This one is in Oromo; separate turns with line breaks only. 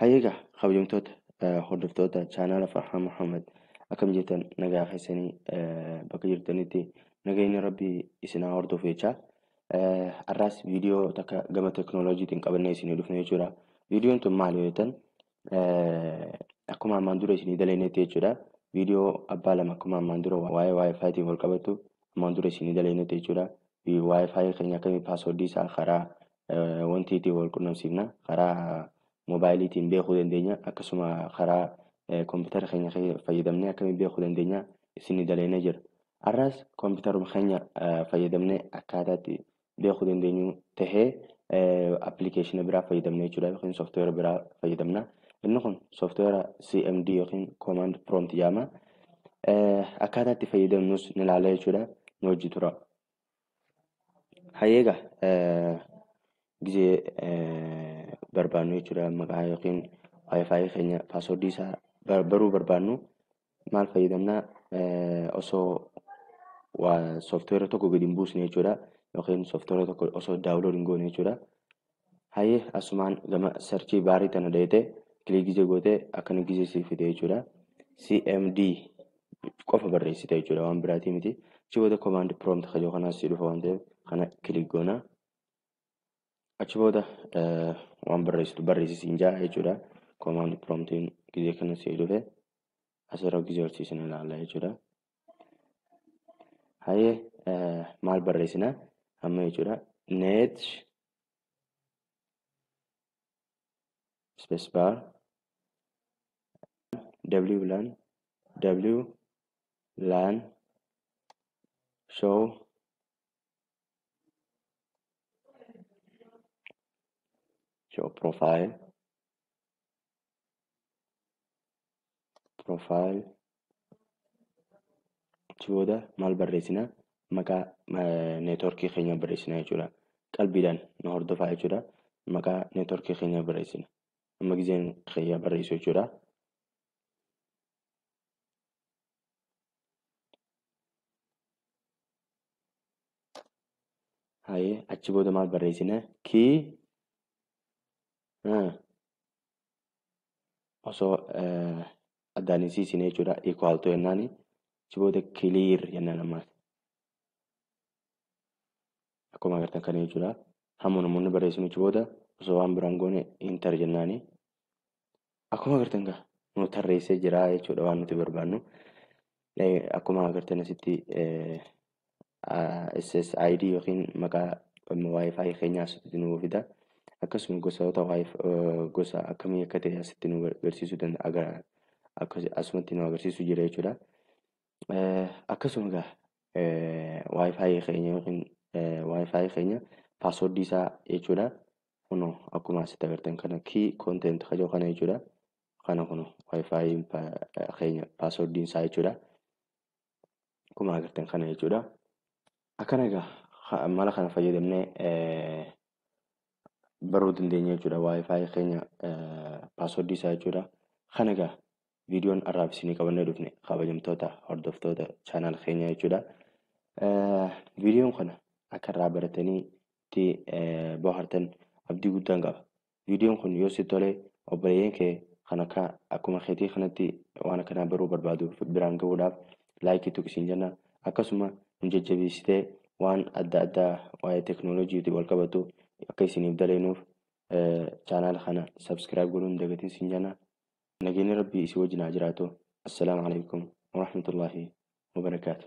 Hayyeegaa kabajamtoota hordoftoota chaanaala Farhaan Muhammad akkam jirtan nagaa keessanii bakka jirtanitti nageenyi rabbii isin haa hordofu jechaa. Har'aas viidiyoo takka gama teknooloojiitiin qabannee isinii dhufne jechuudha. Viidiyoon tun maal yoo jettan akkuma ammaan dura isinii daleenetti jechuudha. Viidiyoo abbaa lama akkuma ammaan dura waa'ee wifi tiin wal qabatu ammaan dura isinii daleenetti jechuudha. Wifi keenya akkamii paaswordii isaa karaa wanti ittiin wal qunnamsiifna karaa moobaayiliitiin beekuu dandeenya akkasuma karaa kompiitara keenya fayyadamnee akkamii beekuu dandeenya isinii daleenee jira. Har'as kompiitaruma keenya fayyadamnee akkaataatti beekuu dandeenyu tahee appilikeeshina biraa fayyadamna jechuudha yookiin sooftiweera biraa fayyadamna. Inni kun sooftiweera CMD yookiin Command Prompt jedhama. Akkaataa itti fayyadamnus ni ilaalla jechuudha. Nu wajji tura. Hayyeega gizee barbaannu jechuudha maqaa yookiin wifi keenya paaswordii isaa baruu barbaannu maal fayyadamna osoo waa sooftiweera tokko gadi hin buusne jechuudha yookiin sooftiweera tokko osoo daawulood hin goone jechuudha. Hayyee asumaan gama sarchii baarii tana dheete kilii gizee goote akkana gizee siif fide jechuudha. CMD qofa barreessite jechuudha waan biraatii miti. Achi booda komaand prompt kajoo kanaas si dhufa waan ta'eef kana kilii goona. achi booda waan barreessitu barreessi siin jaa jechuudha. Command promptiin gizee kana sii dhufe asirra gizee horsiisin ilaalla jechuudha. Hayyee maal barreessina amma jechuudha. Net space bar w lan w lan show show profile profile achi booda maal barreessina maqaa neetworkii keenya barreessina jechuudha qalbiidhaan nu hordofaa jechuudha maqaa neetworkii keenya barreessina amma gizeen keenya barreessu jechuudha Hayee achi booda maal barreessina? Ki ah, osoo eh, addaan hin siisine jechuudha. Equal to jennaani achi booda clear jennaan ammaas. Akkuma agartan kana jechuudha. Hamma namoonni barreessinu achi booda osoo waan biraan goone enter jennaani. Akkuma agartan gaa nu tarreessee jira jechuudha waan nuti barbaannu. Akkuma agartan asitti SSID yookiin maqaa Wi-Fi keenyaa asitti nu fida. Akkasuma gosoota gosa akkamii akka ta'e asitti nu agarsiisuu danda'a agarra. Asumatti nu agarsiisuu jira jechuudha. Akkasuma gaa Wi-Fi keenya yookiin Wi-Fi keenya paaswordii isaa jechuudha. kuno akkuma asitti agartan kana key content ka jiru kana jechuudha. Kana kuno wifi keenya passwordiin isaa jechuudha. Akkuma agartan kana jechuudha. Akkana egaa mala kana fayyadamnee baruu dandeenya jechuudha. Wifi keenya passwordii isaa jechuudha. Kana egaa viidiyoon har'aaf isinii qabannee dhufne kabajamtoota hordoftoota chaanaal keenyaa jechuudha. Viidiyoon kana akka irraa baratanii itti bohartan abdii guddaan qaba. Viidiyoon kun yoo si tole obboleeyyan kee kan akka akkuma keetii kanatti waan akkanaa baruu barbaadu biraan gahuudhaaf laayikii tuqi siin jenna. Akkasuma nu jajjabeessitee waan adda addaa waa'ee teknooloojiitiin wal qabatu akka isiniif daleenuuf chaanaala kana sabskiraayib godhuu hin dagatin siin jenna. Nageenyi Rabbii isin wajjin haa jiraatu. Assalaamu alaikum warahmatullaahi wabarakaatu.